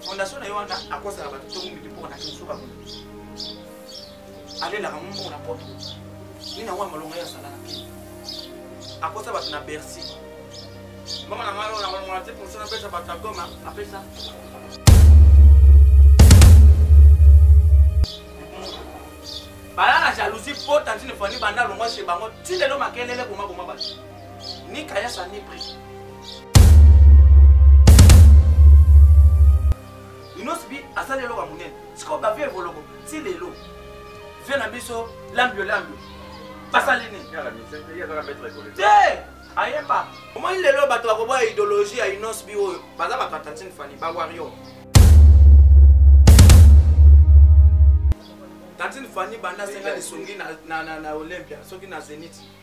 fondation na yo wana akosaka bato to mumbi mpo na kinsuka kuna alelaka ngo mbongo na poto ye na wana malonga ye asala na kini akosa bato na bercy mbongo na ngai oyo na malonga na te mposa napesa bato ya goma apesa bala na jalousie mpo tantine fani banda alongwa se bango ti lelo makelele bomaboma bato ni kayasa ni prix inos bi asali eloko ya monene sikoyo bavie evoloko ti lelo vie na biso lambio lambio basali nini te ayeba omoni lelo bato bakoboya idéologie ya inos bi oyo baza bato ya tantine fani bawario tantine fani banda senga lisungi na olympia soki na zeniti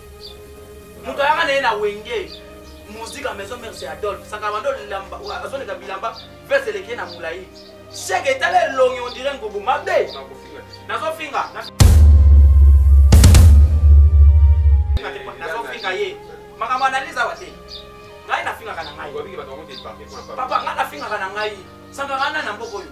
moto ayaka na ye na wenge musique ya maison mère c'est adolphe sakaba nde olamba azoleka bilamba vese eleki ye na molai sheke etala elongi ondire ngobo mabe nazofinga nazofinga ye makambo analyse awa te ngai nafingaka na ngai papa ngai nafingaka na ngai sangaka ngai na mboka oyo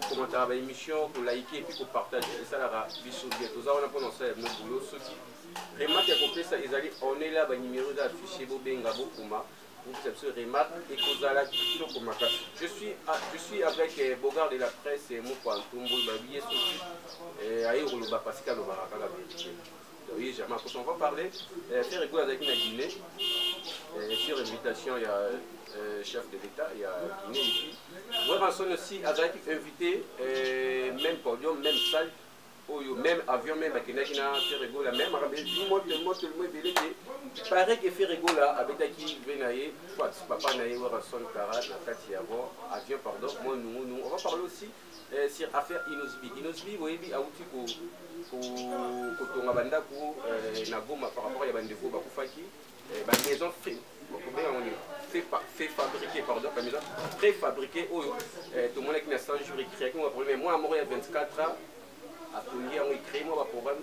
kokomataka ba émission ko like et puis ko partage esalaka biso bien toza wana mpona kosala bino boulot soki remarque ya kopesa ezali onela ba numero eza affiché bobenga bokoma bopesa biso remarque ekozala kitoko makasi je suis ah, je suis avec eh, bogard de la presse eh, mokwa ntumbu babiye soki eh, aye koloba pasika alobaka kaka verité Oui, jamais. Parce qu'on va parler. Euh, Ferre Goula avec la Guinée, euh, sur invitation, il y a euh, chef de l'État, il y a Guinée ici. Weranson aussi, avec invité, euh, même podium, même salle, oyo même avion même akendaki na ferregola même akambi moto moto limo ebele te pareil ke ferregola abetaki ve na ye soit papa na ye werason kara na kati ya bo avion pardon mo nungunu on va parler aussi Eh, sur affaire Inosbi. Inosbi, boyebi, awuti ko kotonga bandako eh, na Goma par rapport ya bandeko bakufaki eh, ba maison fait bakobenga ngo nini fait fabriquer pardon ba maison préfabriquer oyo eh, tomonaki na 100 jours ekreaki mwa problème mwana moko ya 24 ans atongi yango ekrei mwa baproblème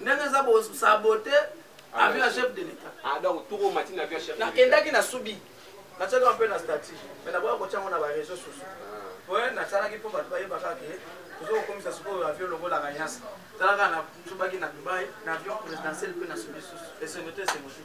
ndenge eza bo sabote ah, avion ya chef de l'etat ah donc toko mati na avion chef na kendaki na subi na tsaka un peu na statut mais na boya ko tsango na ba réseaux sociaux ah. ouais na tsala ki po ba baye baka ke tozo ko komisa siko avion longo la kanyasa tsala ka na tsubaki na Dubai na avion présidentiel pe na subi susu et c'est noté c'est motivé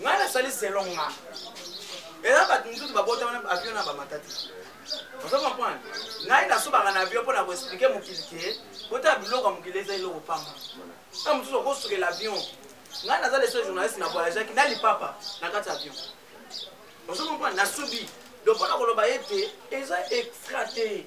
ngai nasali selon nga eza bato mosusu babota wana avion na bamata te ozo comprendre ngai nasubaka na avion mpo na koexplike mokili te botala biloko ya mokili eza eloko pamba na mosusu okosukela avion ngai naza leso journaliste na voyageaki na lipapa na kati ya avion ozo comprendre nasubi donc mpo na koloba ete eza extra te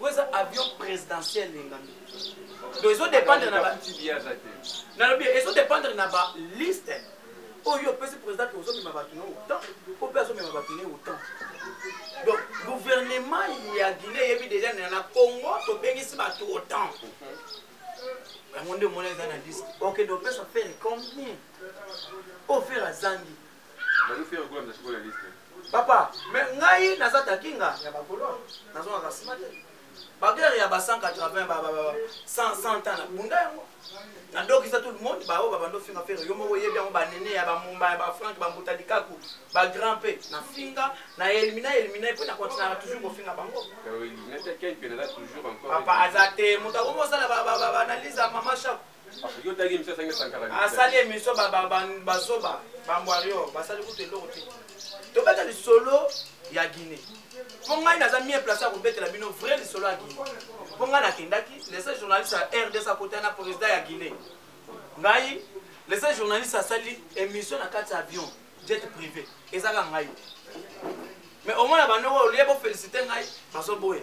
oyo eza avion présidentiel lengami donc ezo dépendre na nalobi ezo dépendre na ba liste oyo opesi président ke ozomema bato na autant o mpe azomema bato na autant donc gouvernement ya guine eyebi deja na congo tobengisi bato autant yango nde omona eza na liste okende opesa fere combien ofere azangi papa me ngai naza takinga ya bakolo nazongaka nsima te bagere ya ba 180 100 ans na bunda yango nadokisa tout le monde baoyo babanda ofinga fere yo moko oyebi yango banene ya bamumba ya bafrank bambuta likaku bagrand mpe nafinga na elimina elimina mpe na continuaka toujours kofinga bango papa aza te moto akomi osala baanalyse ya mama shako asali emission bazoba bambwario basali kutu eloko te tobeta lisolo ya guine mpo ngai naza mie place ya kobetela bino vrai lisolo ya guine mpo ngai nakendaki lese journaliste ya rds akota na président ya guine ngai lese journaliste asali émission na kati ya avion jet privé ezaka ngai mais omona bando oyo olie bofélicité ngai bazoboya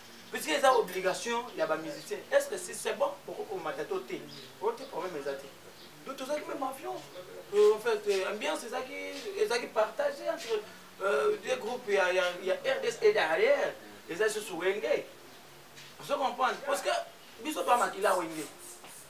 puisque eza obligation ya ba musicien est ce que si c'est bon boko komata to te oyo te problème eza te donc tozalaki même avion euh, en fait euh, ambiance ezalaki ezalaki partage entre euh, deux groupes ya, ya, ya rds et derrière eza susu wenge ozo comprendre parce que biso bamakila wenge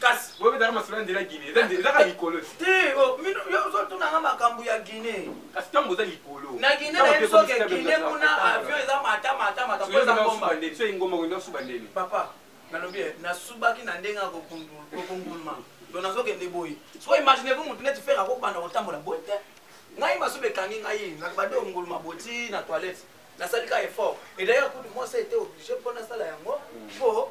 kasi bobetaka masolo ya nzela guine ezaka likolo te oh, yo ozotunanga makambo ya guine kasi ntango oza likolo na guine nayebi soki guine kuna avion eza mata mata mata po eza ngomba so engomba kende osuba ndeni papa nalobi eh, nasubaki na ndenge ya kokunguluma to nazokende boye so imagine vous motu neti fere akobanda kotambola boye te ngai masuba ekangi ngai nakobande onguluma boti na toilette nasali ka effort et d'ailleurs kutu mwasi ete oblige mpo nasala yango mpo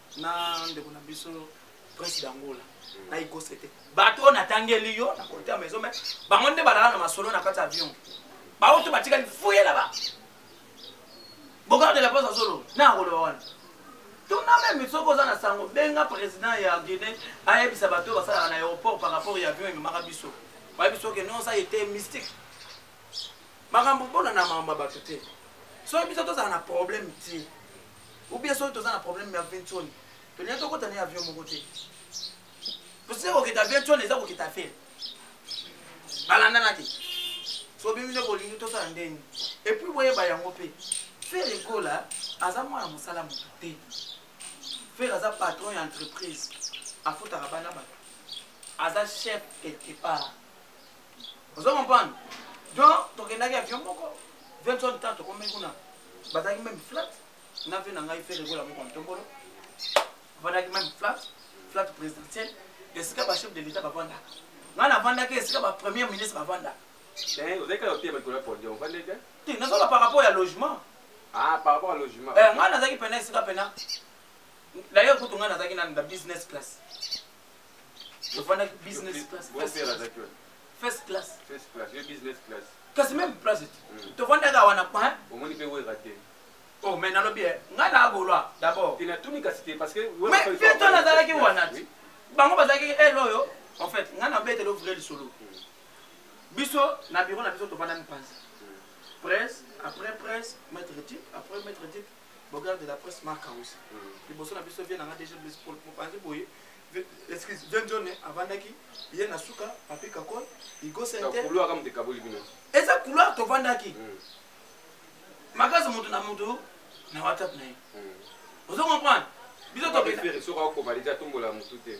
na ndeko na biso prince dangola na ikose te bato oyo natangeli yo na kote ya maison mai bango nde balala na masolo na kati ya avion baoyo to batikali fuye laba bokardela mposa azoloba na akoloba wana tuna meme soki oza na sango benga président ya guinée ayebisa bato oyo basalaka na aéroport par rapport ya avion ememaka biso bayebi soki non ça ete mystique makambo mpona na makambo ya bato te soki biso tozala na problème te ou bien soki toza na problème ya ventoni tolingi tokota na avion moko te tosili kokita ventoni eza kokita fere balandana te soki bino bolingi tosala ndenge epuis boyeba yango mpe fere ekola aza mwana mosala moto te fere aza patron ya entreprise afutaka bana bato aza chef quelque part ozo comprendre donc tokendaki avion moko vinson ta tokomei kuna bazalaki meme flat na vie na ngai fere kola moko ntombolo avandaki meme flat flat présidentiel esika bachef de l'état bavandaka ngai navandaki esika bapremier ministre bavandaka te nazala par rapport ya logement ah, eh, ngai nazalaki pena esika pena dailleurs kutu ngai nazalaki na business class ofandaki business class first class first class first class yo business class kasi même place hmm. tofandaka wana pa omoni mpe wera te o oh, mai nalobi eh, ngai na agolwa d'abord te natuni kasi te parce que mais fieto nazalaki wana ti bango bazalaki ele eh, oyo en fait ngai nabeteli ovre lisolo hmm. biso na biro na biso tofandami mpanzi hmm. presse après presse maître tip après maître tip Bogar de la presse Marc House. Liboso na biso vie na nga déjà Blaise Paul mopanzi boye excuse John John avandaki ye na suka Papi Kakol Igo Sente. Couloir comme des kaboli bino. Eza couloir to vandaki. Mm. Makaza moto na moto na WhatsApp na ye. Mm. Ozo comprendre? Biso to pesa. Soka ko valide atumbola moto te.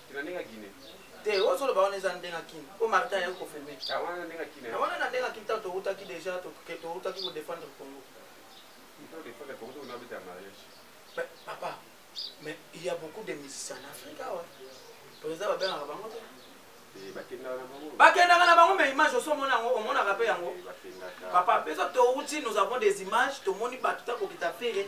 Te na ndenge ya Guinée. Te oyo solo ba wana eza ndenge ya Kin. Ko Martin ya ko filmer. Ah wana na ndenge ya Kin. Na wana na ndenge ya Kin tanto uta ki déjà to ke to uta ki ko défendre Congo. Il faut défendre Congo on a habité en mariage. Mais papa, mais il y a beaucoup de musiciens en Afrique awa. Président ba benga bango te. Eh, bakendaka na bango mais image oso omona yango omonaka mpe yango eh, papa mpe so touti nous avons des images tomoni bato ta kokita fere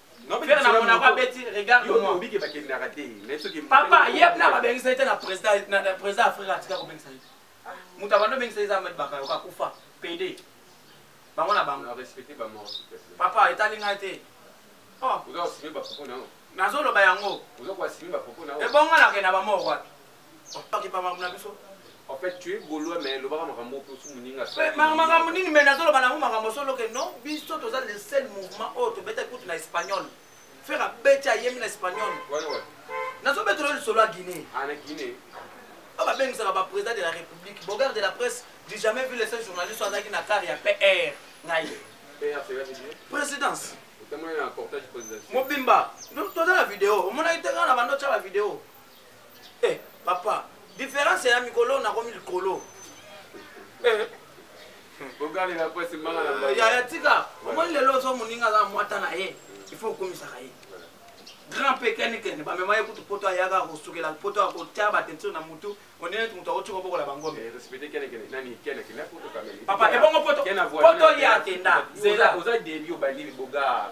Ferre na Monaco abeti regarde moi. Obike bakendaka te. Mais soki Papa yep na babengisa ye te na président na président Afrika atika kobengisa ye. Moto abando bengisa ye eza Ahmed Bakayoko akufa pede. Bango na bango. Respecter ba mort. Papa etali ngai te. Oh. Ozo sibe ba propos na yo. Nazoloba yango. Ozo kwa sibe ba propos na yo. Ebongo na kenda ba mort wapi? En fait, tu es gaulois, mais le bar makambo pour sous muninga. Makambo nini mais nazo loba nango makambo solo que non, biso toza le seul mouvement oyo tobeta kutu na espagnol. Faire abeti ayemi na espagnol. Ouais ouais. Nazo beta le solo à Guinée. Ah na Guinée. Oh ba bengisaka ba président de la République, Bogard de la presse, j'ai jamais vu le seul journaliste azaki na car ya PR. Ngai. PR c'est la présidence. Mobimba, toza na video, omonaki te kaka na bando tya ba video. eh papa différence ya mikolo nakomi likolo eh bogalela pasi manga na manga ya tika omoni lelo ozo moninga za mwata na ye il faut okomisaka ye grand pe keni keni ba mema ye kutu poto ayaka ko sukela poto ako tia ba teinture na mutu on est mutu ako tiko bokola bango mais respecter keni keni nani keni keni poto kameli papa e bongo poto poto ya tenda zela oza demi obandi boga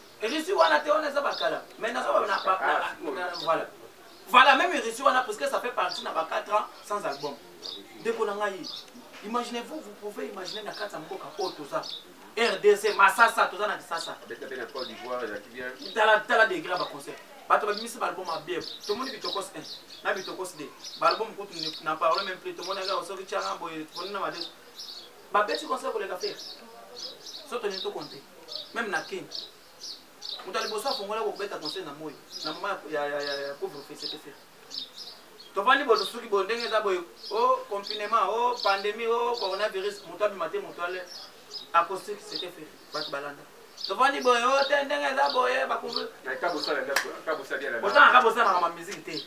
Russie wana te wana eza bakala mais naza na ah, voilà voilà même Russie wana parce que ça fait partie na ba 4 ans sans album ndeko na ngai imaginez vous vous pouvez imaginer na kati ya mboka oyo toza rdc masasa toza na kisasa tala degré ya baconcert bato babimisi baalbum abie tomoni bitokos 1 na bitokos 2 baalbum kutu na parole même plus tomonaka osoki tianga boye ponina made Ba beti concert koleka ferre. Soto ni to compter. Même na kin. Moto ya liboso afongola kobeta concert na moi na mama ya, ya, ya, ya couvre feu c'était ferre. tofandi boto soki boye ndenge eza boye o oh, confinement o oh, pandémie o oh, coronavirus moto abima te moto ale acoustique c'était ferre bato balanda tovandi boye o oh, te ndenge eza boye bakobosana kabosanaka bamiziki te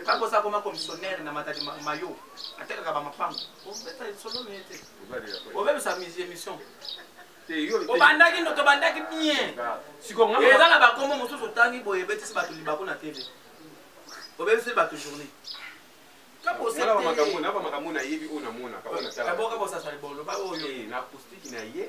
kabosa akoma commissionnaire na matadi mayo atekaka bamapango obeta lisolo mie te obebisa émission obandaki tobandaki bien eza na bakombo mosusu otangi boye ebetisi bato libako na tele obebisi bato journée kabosaboka bosasa libolo baoyo na acoustique na ye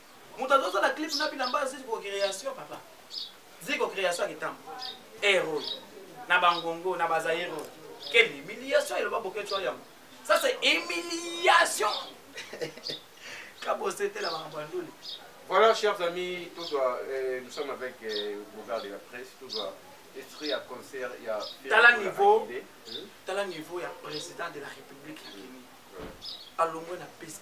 moto azosala clip na bilamba ziko création papa ziko création akitambo ero na bangongo na bazairo quelle humiliation eloba boketswa yango ça c'est humiliation kabosetela makambo ya nduli Voilà, chers amis, tout doit, euh, nous sommes avec euh, Bougard de la presse, tout doit esprit à concert, il y a... Tala niveau, hmm? tala niveau, il y a président de la République, il y a Alombo, la piste.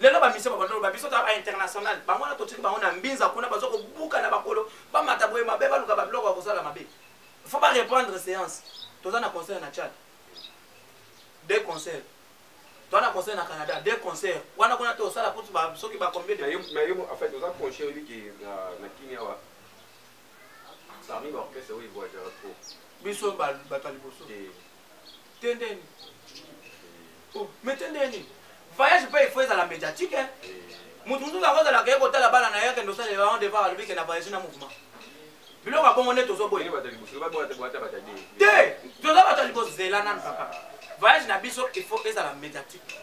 lelo bamisio babanda loba biso ta bainternational bango wana totiki bango na mbinza kuna baza kobuka na bakolo bamata boye mabe baluka babiloko ya kosala mabe faut bareprendre séance toza na concert na tchad de concert toza na concert na canada de concert wana kuna tosala kutu soki bacombien oza conscient oyebi ke na kini awa parmi baorchestre oyo evoyagera trop biso bato ya liboso eh. tende nini oh, me tende nini voyage mpe ifo ezala médiatique eh. motu mosusu yango ozalaka ye kotala bana na ye akende osalela yango devoir alobi ke na voyage na mouvement biloko ya bongo nde tozoboye te toza bato ya liboso zela nanu papa voyage na biso ifo ezala médiatique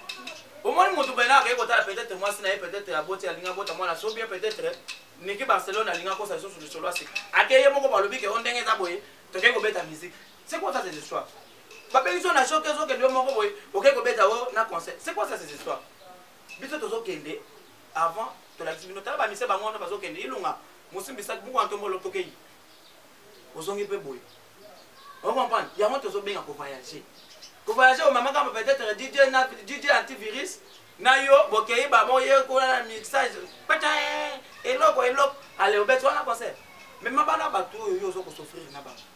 omoni motu bena akei kotala peut-être mwasi na ye peut-être aboti alingi abota mwana so bien peut-être niki barcelone alingi akosa lisusu lisolo asika akei ye moko balobi ke o ndenge eza boye tokei kobeta miziki C'est quoi ça ces histoires babengisi yo na shoke ozokende yo moko boye okei kobeta o oh, na conseil c'est quoi ça ces histoires biso tozokende avant tolakisi bino tala bamise bango wana bazokende ilunga mosimbisaki buku antombolo tokei ozongi mpe boye ocomprendre yango tozobenga kovoyage kovoyage omamaka ma peut-être dj na dj antivirus na yo bokei baboye kuna na mixage pata eloko eloko ale obeti wana conseil mema bana bato oyo yo ozokosofrire na bango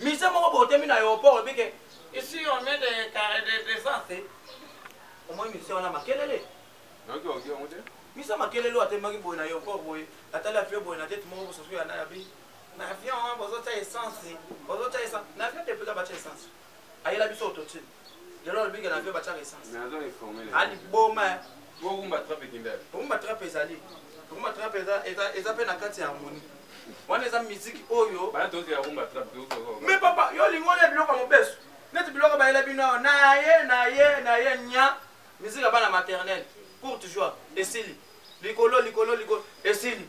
Musee moko boye otemi na aeroport olobi ke ici on met de carre de descente. Omoni musee wana makelele. Nayoki oki yango te. Musee makelele oyo atemaki boye na aeroport boye atali avion boye na tete moko bososo ya naye abi na avion wana bozotya essence bozotya essence na avion te mpenza batya essence ayela biso autotune lelo alobi ke na vio batiaka essence aliboma bokumba trape kindele bokumba trape ezali bokumba trape eza mpe na kati ya harmonie wana eza miziki oyo me papa yo olingi wana ya biloko ya mobesu neti biloko bayela bino awa na ye na ye na ye nya miziki ya bana maternel courte joie esili likolo likolo likolo esili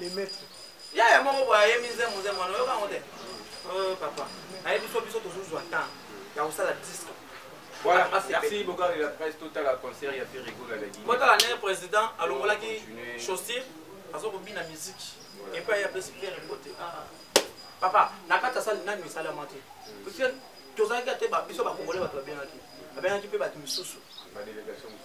les maîtres yaya moko boye ayemi nzembo nzembo wana oyoka yango te oh, papa nayebi so biso tozozwa temps ya kosala disque Voilà, merci beaucoup à la presse totale à concert ya Ferrigo la lagi. Bota la nene président alongolaki chaussure azo ko bina musique. Et puis ya pesi Pierre Mbote. Ah. Papa, na kata sali nani misala mate. Hmm. Parce que tozalaki ate ba biso ba congolais ba tobengaki. Abengaki pe ba misusu. Ba délégation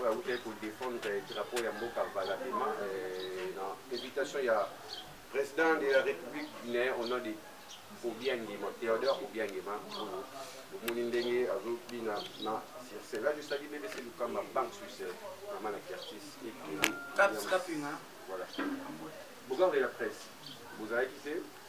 oyo awutaki kodefendre drapeau ya mboka valabima eh, na invitation ya président de la république guinéen au nom de obiangema théodore obiangema oyo omoni ndenge azobina na circe nga jusaki bbc lukamba banque suisse mama na quartier ekeli voilà bogarde la presse bozalaki te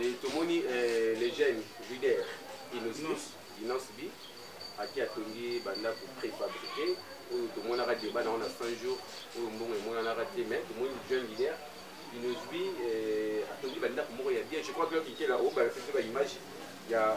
Et tomoni euh, les jeunes leaders Innosis, Innosbi, aki atongi bandako préfabriqué oyo tomonaka deba na wana 100 jours oyo mbongo emonanaka te mais tomoni jeune leader Innosbi euh, atongi bandako moko ya bien je crois que okikela obalakisi ba image ya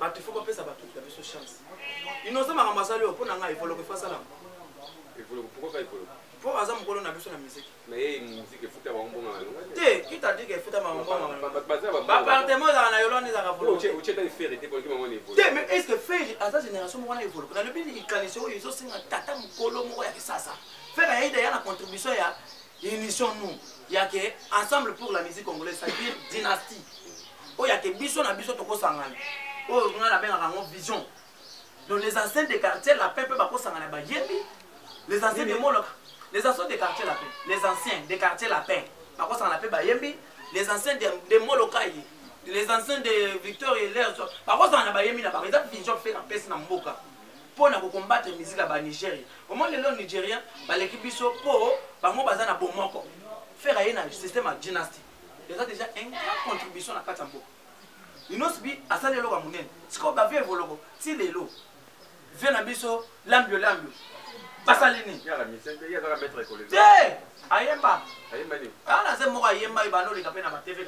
bato ifo bapesa bato na biso chance inosa makambo asali oyo mpo na ngai evoloko ifo asalama mpo aza mokolo na biso na miziki te kitadike efuta makambobapartement ezaka na yolande ezaka volonte mais est ce que feri aza génération moko na evoloko nalobi likanisi oyo ezosenga tata mokolo moko ya kisasa feri ayida ya na contribution ya initions nous yake ensemble pour la musique congolaise c'est-à-dire dynastie oyo ake biso na biso tokosangana oyo ngai nabengaka yango vision donc les anciens de quartier lapin mpe bakosangana bayembi les anciens de moloka les anciens de quartier lapin les anciens de quartier lapin bakosangana mpe bayembi les anciens de, de molokai les anciens de victor elers bakosangana bayembi na bango eza vision mpe napesi na mboka mpo na kokombatre miziki ya banigeria omoi lelo nigérien baleki biso mpo bango baza na bomoko fere aye na systeme ya dynastie eza deja un grand contribution na kati ya mboka linos bi asali eloko ya monene sikoyo bavie evoloko ti lelo vie na biso lambio lambio basali nini te ayemba alaze moko ayembaki banoleka mpe na batv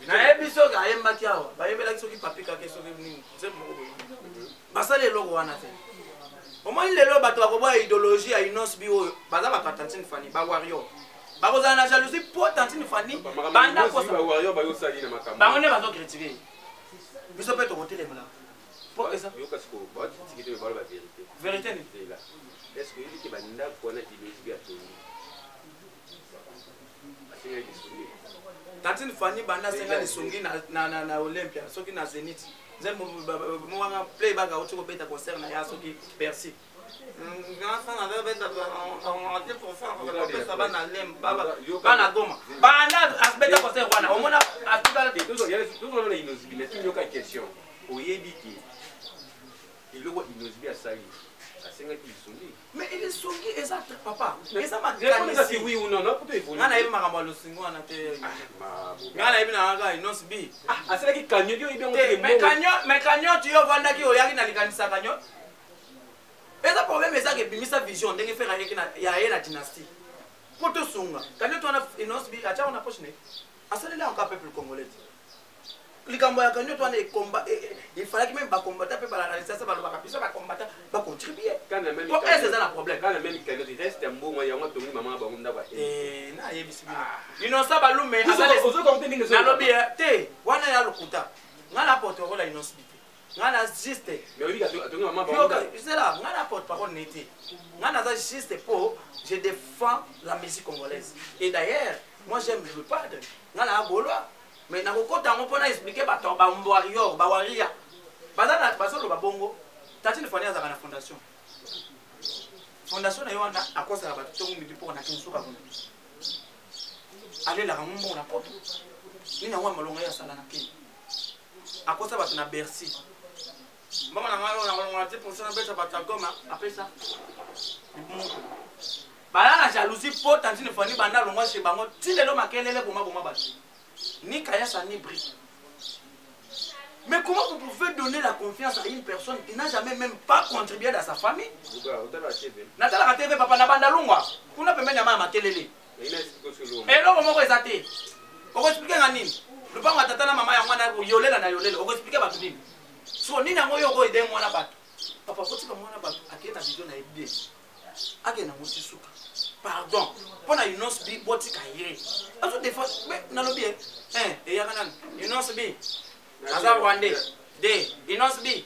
kanayebi soki ayembaki awa bayembelaki soki papikake soki nini nzembo moko boye basali eloko wana te omoni lelo bato bakoboya idéologie ya inos bi oyo baza bato ya tantine fani bawario bakozala na jalousie mpo tantine fani bango nde bazokritike biso mpe tokotelemela mpo eza verité nini tantine fanny banda asenga lisungi na, na, na, na olympia soki na zenith nzembo wana play baka auti kobeta concert na ya soki persi bana goma banda abeta concert wana omona atikalayoka question oyebi te eloko inozibi asali asengaki lisungi Mais il est songi eza papa. Eza makanisi. Oui ou non, non peut évoluer. Ngana yebi makambo losingo wana te. Ah, Ngana yebi na ga inos bi. Ah, asala ki kanyo yo ibe ngote. Mais kanyo, mais kanyo tu yo vanda ki oyaki na likanisa kanyo. Eza problème eza ke bimisa vision ndenge fera yeki na ya ye na dynastie. Poto sunga. Kanyo tu wana inos bi acha wana poche ne. Asala la encore peuple congolais. likambo ya cagnotte wana ekomba e, e, il fallaki meme bakombata mpe balakalisiasa balobaka biso bakombata bacontribue po ese eza na problème kana meme cagnotte reste mbongo yango atongi mama bango ndako eh, nayebisi bino ah. inosa balume nalobi eh, te wana ya lokuta ngai na porte okola inosi bite ngai na juste ngai na porte parole ne te ngai naza juste mpo je défends la musique congolaise et d'ailleurs moi j'aime le padre ngai naa golois mais nakokota yango mpo na explike bato ya bambwarior bawaria bazoloba bongo tatine fani azalaka na fondation fondation na ye wana akosaka bato ntongo midi mpo na kinsuka kuna alelaka ngo mbongo na poto nini yango ya malonga ye asala na kenya akosa bato na bercy mbongo na ngai oyo nakolongola te mposa nabeta bato ya goma apesa bala na jalousie mpo tantine fani banda alongwa se bango ti lelo makelele bomaboma bato ni kayasa ni bri Mais comment vous pouvez donner la confiance à une personne qui n'a jamais même pas contribué dans sa famille Natala TV, papa, n'a banda longwa. Kuna pembeni ya mama makelele. eloko moko eza te okoexplike nga nini lupango ya tata na mama yango wana yolela na yolela okoexplike bato nini so nini yango yo okoyede mwana bato papa kotika mwana bato akende na bidio na ye bien akende yango ti suka pardon mpo na unos b botika ye azo defa nalobi ye eyaka nani unos b aza rwandais de unos b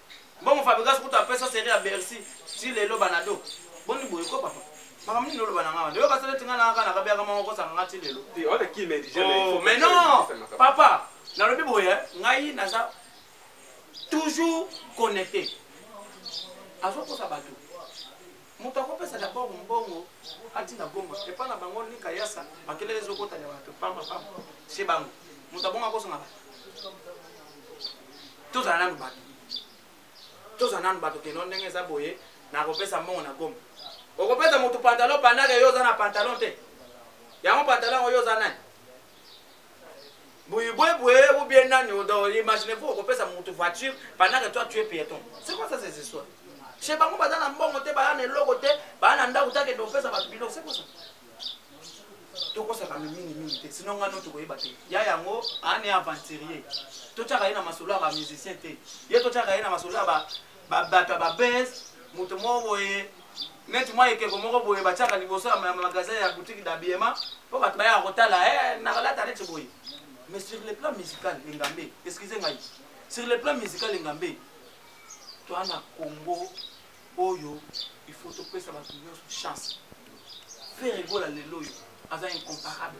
Bongo Fabregas kutu apesa serie ya Bercy ti lelo banado. Boni boye ko papa. Makambo nini oloba na ngai? Ndio basala ete ngai na kaka na kabe yaka moko kosanga ngai ti lelo. Ti wana ki mais déjà mais. Oh, mais non. Papa, nalobi boye ngai naza toujours connecté. Azokosa bato. Moto akopesa d'abord mbongo ati na Goma epa na bango ni Kayasa makelele ezokota ya bato pamba pamba chez bango moto abongo akozonga bato tozala nanu bato tozala nanu bato keno ndenge eza boye nakopesa mbongo na Goma okopesa moto pantalon pandaka yo oza na pantalon te yango pantalon yango yo oza nani boyibwebwe ou bien nani imagine vous okopesa motu voiture pendant que toi tu es piéton c'est quoi ça ces histoires chez bango baza na mbongo te baya na eloko te baya na ndako takende kopesa bato biloko c'est quoi ça tokosaka mingi mingi te sino ngai no tokoyeba te ya yango ane aventurier totyaka ye na masolo ya bamusicien te ye totyaka ye na masolo ya babata babes moto moko boye neti mwa ekeko moko boye batiaka liboso ya magasin ya boutique d'habillement mpo bato bayaka kotala eh, nakolata neti boye mais sur le plan musical engambe excuse ngai sur le plan musical engambe toa na congo oyo il faut topesa bato nyonso chance fere egola lelo oyo aza incomparable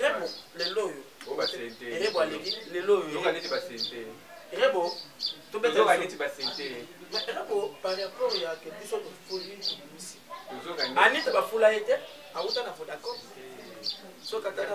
rebo lelo oyo rebo aleki lelo oyo rebo tobetneti basente rebo par rapport ya ke biso tofuli tobimisi anita bafula ye te awuta na vodacom so kataka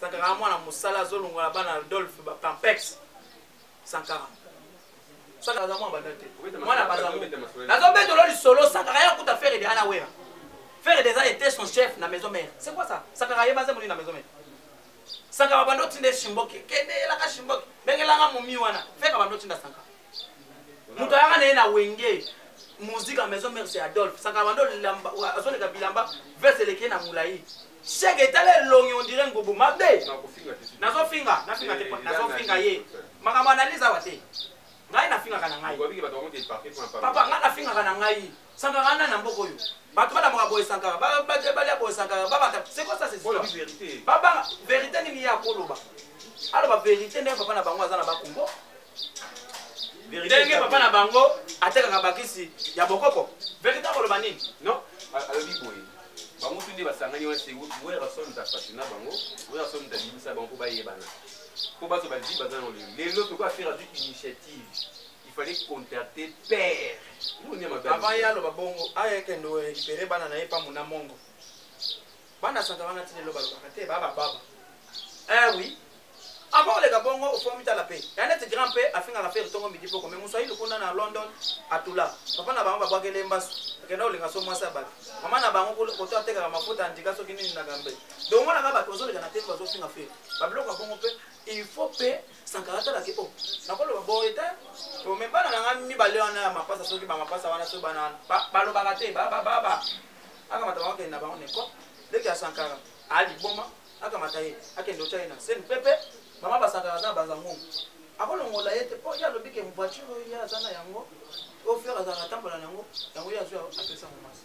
sankara mwana mosala azolongola bana adolphe bapampex sankara sankara aza mwana banda te mwana bazango nazobeta olo lisolo sankara ye akuta fere de ana wera fere de eza ete son chef na maison mère c'est quoi ça sankara ye baza molini na maison mère sankara banda otinda ye shimboke kende elaka shimboke bengelanga momi wana fere banda otinda sankara moto ayaka na ye na wenge musique ya maison mère c'est adolphe sankara bando azoleka bilamba vese eleki ye na molai sheke etala elongi ondire ngubu mabe nazofinga nafinga te nazofinga ye makambo analyse awa te ngai nafingaka na ngai papa ngai nafingaka na ngai Sankara nani na mboka oyo? Bato balamaka boye Sankara, balia boye Sankara, babata. C'est quoi ça c'est histoire? Baba, vérité nini ye akoloba? Aloba vérité ndenge papa na bango aza na bakumbo. Ndenge papa na bango atekaka bakisi ya bokoko. Vérité akoloba nini? Non, alobi boye. Bango tu nde basangani wana se Werrason ta fasina bango, Werrason ta bimisa bango mpo bayebana. Mpo bato baliki baza na lelo. Lelo tokoki affaire du initiative. il fallait contacter père avant ye aloba bongo aya ekende orécupere bana na ye pambo na mongo bana santa wana ti lelo balobaka te baa bababa eh oui avant oleka bongo ofomi tala mpe ya neti grand mpe afingaka fere ntongo midi mpoko me moswahili kuna na london atula papa na bango babwakele mbasu akenda kolinga so mwasi ya bato mama na bango koto atekaka mafuta andika soki nini na gambe donc omonaka bato bazoleka na te bazofinga fere babiloko ya bongo mpe il faut mpe sankara atalaki o oh, nakoloba boye te me bana na ngai mibale wana ya mapasa soki bamapasa wana soki bana wana balobaka te babababa akamata bango akende na bango neko leki ya sankara aliboma akamata ye akende otya ye na seni pepe mama basankara aza na banza ngungu akolongola ye te mpo ye alobi ke voiture oyo ye aza na yango ofere azalaka atambola na yango yango ye azwi apesa momasi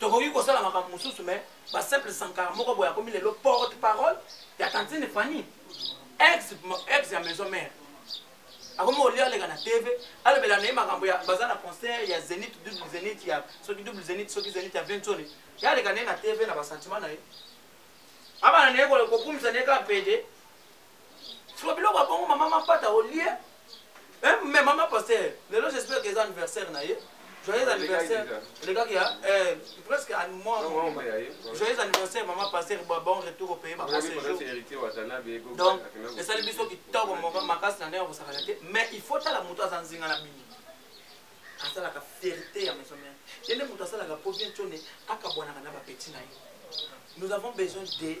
tokoki kosala makambo mosusu mais ba simple sankara moko boye akomi lelo porte parole ya tantine fanny ex, ex ya maison mère akomi olia aleka na tv alobela na ye makambo ya baza na concert ya zenit double zenit ya soki double zenit soki zenit ya ventone ya aleka na ye na tv na basentiment na ye abana na ye kokumisa na ye kaka pede sikoyo biloko ya bongo mama mapata olie eh, me mama paster lelo j'espère que eza anniversaire na ye joyeux anniversaire elekaki ya eh, presque à moi joyeux anniversaire mama paster bon retour au pays donc esali biso kitoko makasi na ndenge ya kosakana te mais il faut tala moto aza nzinga na bino asalaka fierté ya maison mère ye nde moto asalaka po bien tone akabwanaka na bapeti na ye nous avons besoin de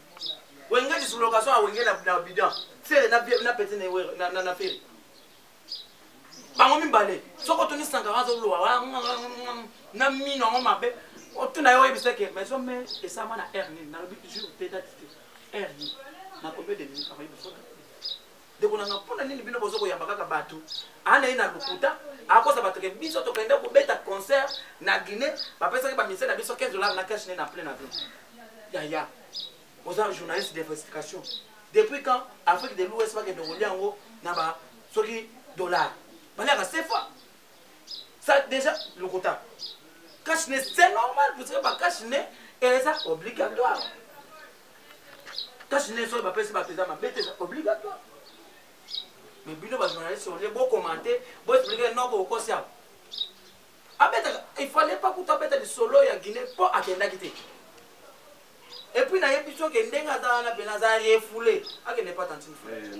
wenge du sous-location à wenge na bidan fere na pete na fere bango mibale soki otuni sankara azolowa na mino yango mabe otuna yo oyebisa ke mais ome esama na air nini nalobi jour te date te air nini na combien de minutes akoyebisa ndeko na nga mpona nini bino bozo koyamba kaka bato ana ye na lokuta akosa bato ke biso tokende kobeta concert na guinée bapesaki bamise na biso 15 dollar na cash ne na plein avion yaya oza journaliste d'investigation depuis quand afrique de l'ouest bakende kolia yango na ba soki dollar baliaka sefa ça déjà lokuta cash ne c'est normal parce que ba cash ne eza obligatoire tâche nini soki bapesi bato eza mabe te eza obligatoire mais bino bajournaliste olie bokomante boexplike noko okosi awa abetaka il fallait pas kutu abeta lisolo ya guinée mpo akendaki te epuis nayebi soki ndenge aza wana mpena aza refoule akende pa tantine fule eh,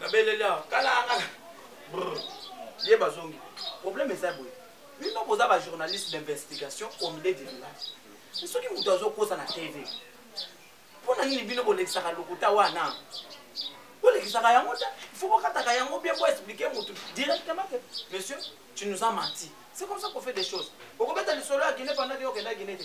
nabeleli awa kalangala ye bazongi problème eza boye bino boza bajournaliste d'investigation au milieu du village soki moto azokosa na tv mpo na nini bino bolekisaka lokuta wana bolekisaka yango te fo bokataka yango bien boexplike motu directement ke monsieur tu nous as menti c'est comme ça qu'on fait des choses okobeta lisolo ya guine pendant ke okenda guine te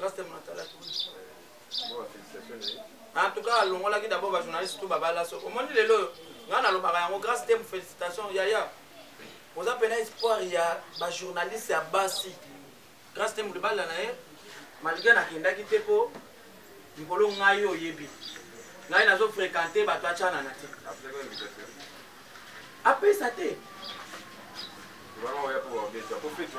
Rasta Matala en tout cas alongolaki d'abord bajournaliste tout babala so omoni lelo oyo ngai nalobaka yango grâce te félicitation yaya oza mpena espoir ya bajournaliste ya basi grâce te molibala na ye malgré nakendaki te mpo likolo ngai oyebi ngai nazo fréquente bato acanana te apesa te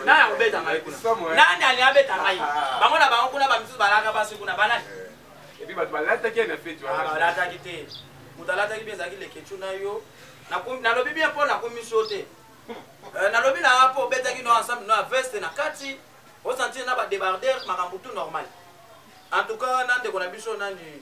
nani akobeta ngai kuna nani alingi abeta ngai bango na bango kuna bamisusu balaka basi kuna banani epi bato balataki ye na feti wana balataki te moto alataki mpe ezalaki lekecu na yo nalobi bien mpo nakomisi yo te euh, nalobi na nga mpo obetaki no ensemble no ya veste na kati osantire na badebarder makambo tout normal en tout cas na ndeko na biso nani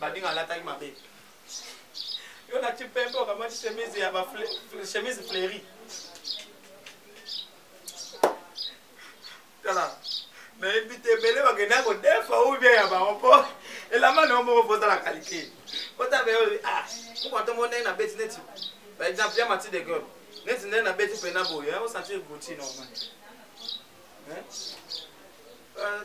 Badinga alataki mabe. Yo na chipembe okamati chemise ya ba chemise fleurie. Tala. nayebi te ebele bakenda kodefa ou bien ya bango mpo elamba na yo moko mpo ozala kalite otabe ah, mokoto mo ndenge nabeti neti par exemple ya mati de gol neti ndenge nabeti mpena boye osanti ebuti normal eh? ah,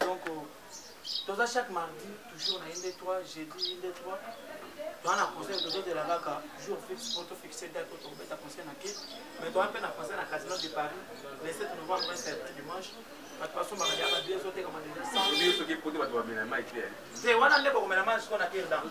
donc toza chaque mardi toujours na inde 3 jeudi inde 3 toza na conseil tozozela kaka jour fixe po tofixe date po tokobeta conseil na ke mais toza mpe na conseil na casino de paris le 7 novembre samedi dimanche bato basombaka deya babie ezotekama deja te wana nde bokomela mai siko na irdan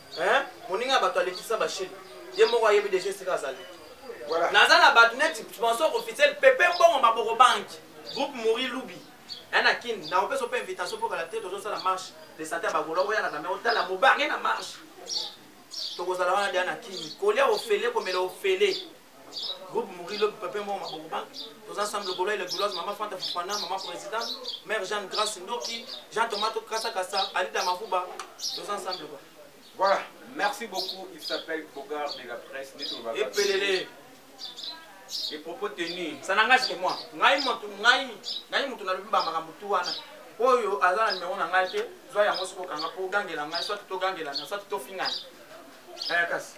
hein moninga bato alekisa bashili ye moko ayebi deja esika azali voilà. naza na bato neti sponsor officiel pepe mbongo maboko banki groupe mori lubi ya na kin nakopesa mpe invitation mpo kala te tozosala marche de sante ya bagola oya na kamera otala mobange na marche tokozala wana deya na kini kolia ofele komela ofele groupe mouri lobi pape moko mabokoba toza ensemble lokola ile gouloise mama fanta fufana mama président mère jeanne grace ndoki jean thomas tokasa kasa alida mafuba toza ensemble lokola voilà merci beaucoup il s'appelle bogard de la presse epelele les propos tenus ça n'engage que moi ngai moto ngai ngai moto nalobi ba makambo tu wana oyo aza na nimero na ngai te zwa yango soki okanga mpo ogangela ngai soit togangelana soit tofingana eh, kasi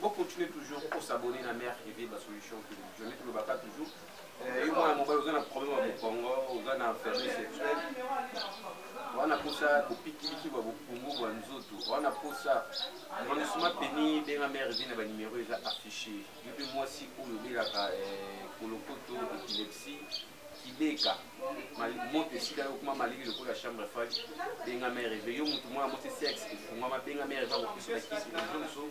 Vous continuez toujours pour s'abonner à Mère Evie, la solution que je mets tout le baka toujours. Et moi, mon père, vous avez un problème avec Congo, vous avez un faiblesse sexuelle. wana posa kopikiliki bwa bopungu bwa nzoto wana posa manisuma peni benga mare vi na banimero eza affiche yo mpe mwasi oyo obelaka eh, kolokoto epilepsie kibeka moto esika yo kuma malili lokola chambre froide benga mère eve yo moto mwana mosi sexe efungwama benga mère eve akopesa bakisi ozo mosusu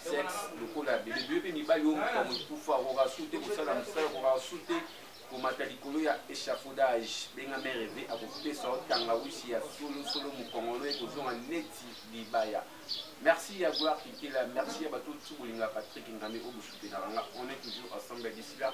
sexe lokola bebe biyo mpe mibali oyo moto amokufa akoka su te kosala mosala akoka su te komata likolo ya échafaudage benga mère eve akopesa yo tangawisi ya solosolo mokongolo ekozonga neti libaya merci ya gloire kitela merci ya bato oyo bolingaka patrick ngame oyo bosutenaka nga on est toujours ensemble ya disila